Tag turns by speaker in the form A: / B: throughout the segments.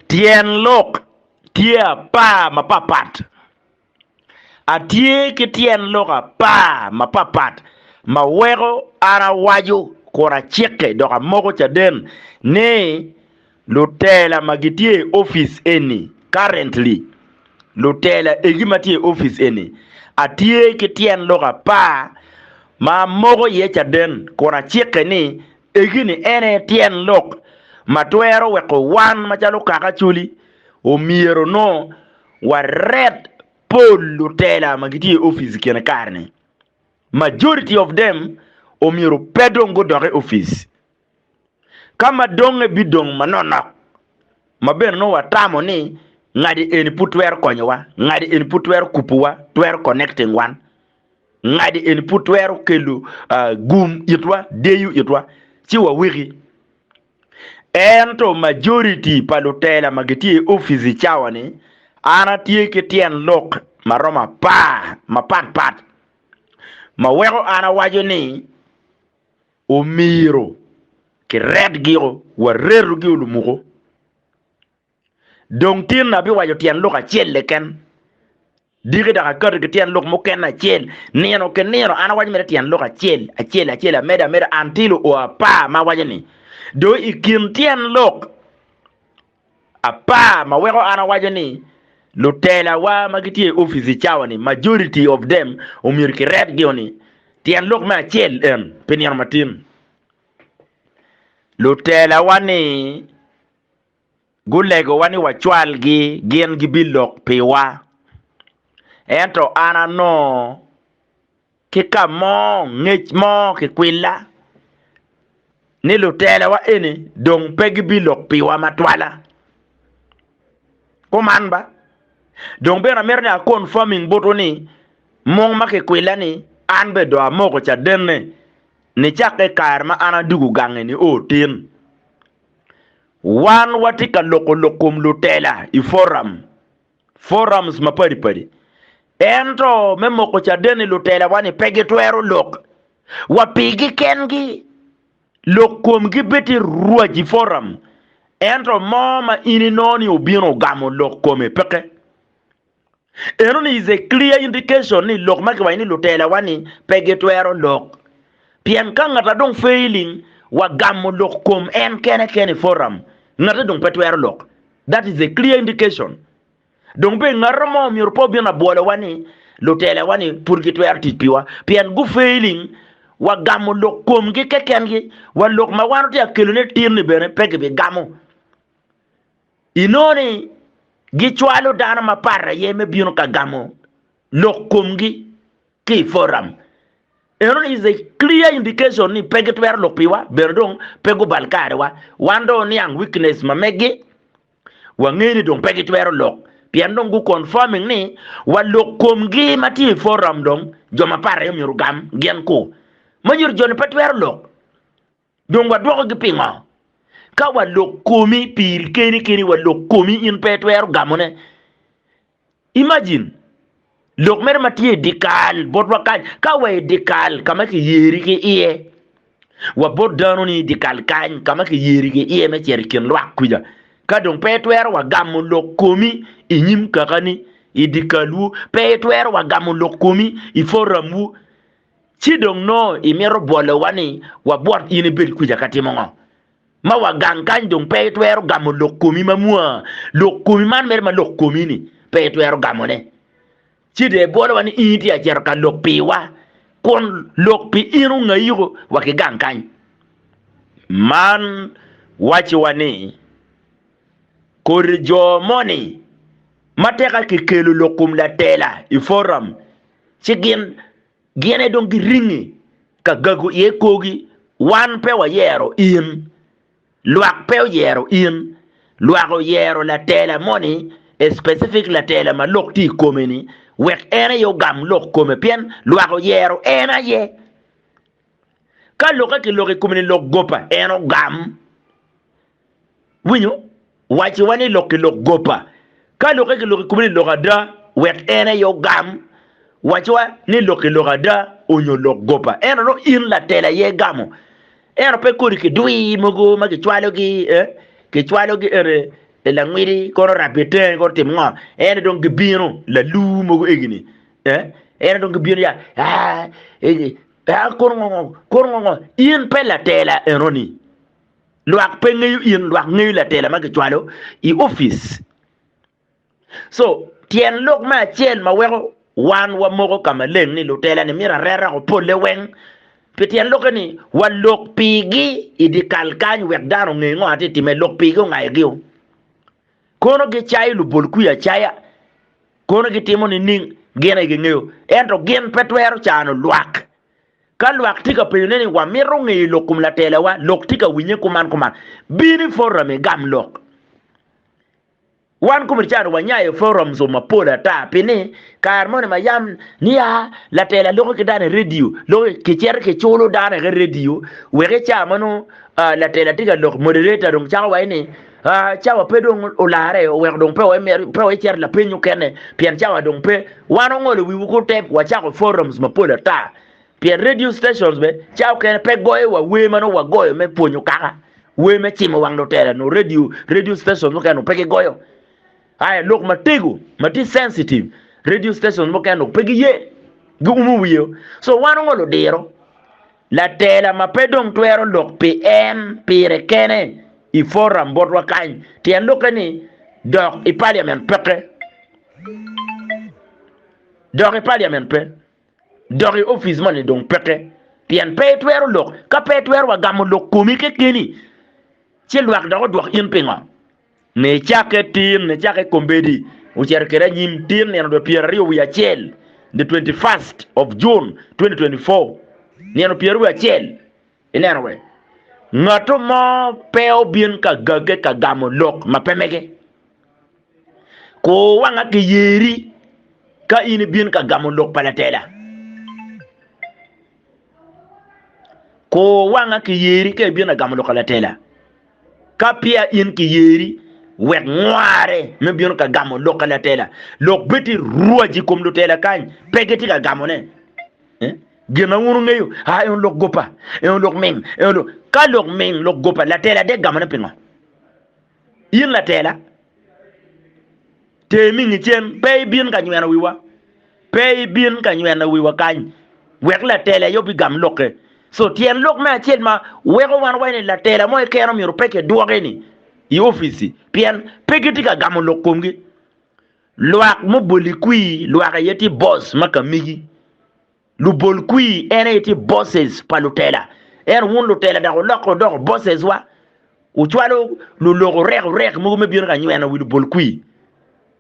A: Tyen lok tye apar mapapat. Atye ki tyen lok apar mapapat ma weko an awaco kun acike dok amoko caden ni lutela ma gitye i opic eni currently, lutela egi ma tye i opic eni, atye ki tyen lok apar ma amoko iye caden kun acike ni Egi-ni en aye tyen lok ma twero weko wan macalo kaka Acholi omyero onongo waret pol lutela ma gitye i opic i kine kare-ni. Majority of them omyero pe dong gudok i opic. Ka ma dongnge bidong manonok, ma bene nongo watamo ni ngati eni pud twero konyowa, ngati eni pud twero kupuwa, twero connecting wan. Ngadi eni pud twero kelo gum itwa, deyo itwa, ci waweki. Ento majoriti pa lutela ma gitye i opic i cawa-ni, an atye ki tyen lok ma romo apar mapatpat ma weko an awaco ni omyero kiretgio, waretugi olumuko. Dong tinni abiwaco tyen lok acel keken, diki dok akati ki tyen lok mukene acel. Nino ki nino an awaco mere tyen lok acel acel acel, amedo ameda anti luo apar ma awaco ni, do i kin tyen lok apar ma weko an awaco ni lutelawa ma gitye i opic i cawa ni majority of them omyero kiret gi o ni tyen lok me acel en pi nino matin lutelawa ni Gulegowa ni wacwalgi, gin gibilok piwa. Ento an anongo ki ka mo ngec mo kikwilla ni lutelawa eni dong pe gibilok piwa matwala. Kuman ba, dong bene amito ni aconfirming botwu ni mung ma kikwilla ni an bene dong amoko cadenne nicakke i kare ma an adwogo gange-ni o tin. Wan watye ka loko lok kom lutela i foram, forums, mapadi padi. Ento me moko caden-ni lutelawa-ni pe gitwero lok wa pigi kengi. Lok komgi bed tye rwac i foram, ento mo ma in inongo ni obino ogamo lok kome peke. Eno ni is a clear indication ni lok ma kiwaco ni lutelawa ni pe gitwero lok. Pien ka ngata dong failing wa gamo lok kom en kene kene i forum, ngate dong pe twero lok. That is a clear indication. Dong be ngata mo myero pe obin abwolowa ni lutelawa ni pud gitwero tic piwa pien gu failing wa gamo lok komgi kekengi wa lok ma wan otye ka kelone tir ni bene pe gibigamo. Inongo ni gicwalo dano mapat aye me bino ka gamo lok komgi ki i forum. Enoni is a clear indication ni pe gitwero lok piwa, bene dong pe gubal karewa. Wan dong oniang weakness ma megi, wangeyo ni dong pe gitwero lok, pien dong gu confirming ni wa lok komgi ma tye i forum dong jo mapat aye myero ogam gin ku. Manyuto joni pe twero lok. Dong wadwokogi pingo? Ka walok komi piri keni keni, walok komi in pe itwero gamone. Imagine lok mere ma tye i dikal botwa kany, ka wa i dikal ka ma kiyeri ki iye, wa bot dano ni i dikal kany ka ma kiyeri ki iye me cito i kin lwak kwica, ka dong pe itwero wa gamo lok komi i nyim kakani i dikalwu, pe itwero wa gamo lok komi i forum wu, Ci dong nongo imito bwolowa ni wabwot in ibed kwica ka timo ngo? Ma wagang kany dong pe itwero gamo lok komi ma mwa, lok komi man mere ma lok komi ni pe itwero gamo ne. Ci dong ibwolowa ni in itye acito ka lok piwa, kun lok pi in ongayiko wa ki gang kany. Man wacci wa ni, kodi jo moni ma tika ki kelo lok kom latela i forum ci gin gin aye dong giringi ka gago iye korgi. Wan pe wayero in, lwak pe oyero in, lwak oyero latela moni, a specific latela ma lok tye i kome-ni, wek en aye ogam lok kome pien lwak oyero en aye. Ka lokke ki lok i kome ni lok gopa, en ogam. Winyo? Wacci wa ni lok ki lok gopa. Ka lokke ki lok i kome ni lok ada, wek en aye ogam. Wacci wa ni lok ki lok ada onyo lok gopa. Ento nongo in latel aye igamo. Ento pe kodi ki dwi mogo ma ki cwalo gi, eh, ki cwalo gi ere e langwidi kono rabbi tenge kono tim ngo. Ene dong gibino lalu mogo egini. En dong gibino ya, kuro ngo ngo, kuro ngo ngo, in pe latela enoni. Lwak pe ngeyo in, lwak ngeyo latela ma gicwalo i opic. So tyen lok me acel ma weko wan wamoko ka maleng ni lutela-ni myero areta woko polle weng, pi tyen lokke ni walok pigi i dye kal kany wek dano onge ngo atye timme, lok pigi ongayo gio. Kono gicayo lubol kwir acaya, kono gitimo nining? Gin aye gingeyo. Ento gin pe twero cano lwak. Ka lwak tye ka penyone ni, 'Wamito ngeyo lok kom latelawa, lok tye ka winye kuman kuman, bin i forum igam lok. Wan kombeddi calo wanyayo i forums mapol ata, pi ni kare moni ma yam nia latela loko ki dano i redio, loko kicito kiculo dano i redio, wek i ca ma nongo latela tye ka lok, moderator dong cako waci ni, Cawa pe dong olarre, oweko dong pe wacito lapeny mukene pien cawa dong pe. Wan ongolo wiwu ku tep wacako forums mapol ata. Pien radio stations bene cawa mukene pe goyowa wer ma nongo wagoyo me pwonyo kaka, wer me cimo wang lutela nongo radio radio stations mukene nongo pe gigoyo. Aya lok matego ma tye sensitive radio stations mukene nongo pe giye, giumo wiye. So wan ongolo diro. Latela ma pe dong twero lok pi en pire kene i foram botwa kany, tyen lokke ni dok i paliament peke. Dok i paliament pe. Dok i opic moni dong peke. Pien pe itwero lok. Ka pe itwero wa gamo lok komi kekeni, ci lwak dok odwok in pingo? Nicakke tin, nicakke kombeddi, ocito kede anyim tin nino dwe pyeraryo wiye acel, the 21st of June 2024, nino pyeraryo wiye acel, ineno we, ngatu mo pe obin ka gagge ka gamo lok ma pe mege. Kur wanga ki yeri ka in ibin ka gamo lok pa latela. Kur wanga ki yeri ka ibino agamo lok alatela. Ka peya in ki yeri, wek ngware me bino ka gamo lok alatela. Lok bed tye rwac i kom lutela kany, pe gitye ka gamone. Eh? Gin ma wun wungeyo, ah, en lok gopa, en lok ming, en lok. Ka lok ming, lok gopa, latela de gamone pingo? In latela, ter mingi cen, pe ibin ka nyweno wiwa, pe ibin ka nyweno wiwa kany, wek latela aye obigam lokke. So tyen lok me acel ma weko wan waye ni latela mo keken omyero pe kidwoke ni i opici pien pe gitye ka gamo lok komgi. Lwak muboli kwir lwak aye tye boss ma kamigi. Lubol kwir en aye tye bosses pa lutela. Ento wun lutela dok wulokke wudoko bosses wa, wucwalo lulok orek orek mogo me bino ka nyweno wi lubol kwir.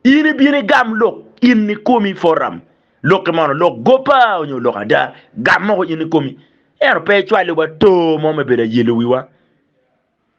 A: In ibino igam lok in ikomi forum lokke mono lok gopa onyo lok ada, gam moko in ikomi. Ento pe icwali wa too mo me bedo ayelo wiwa.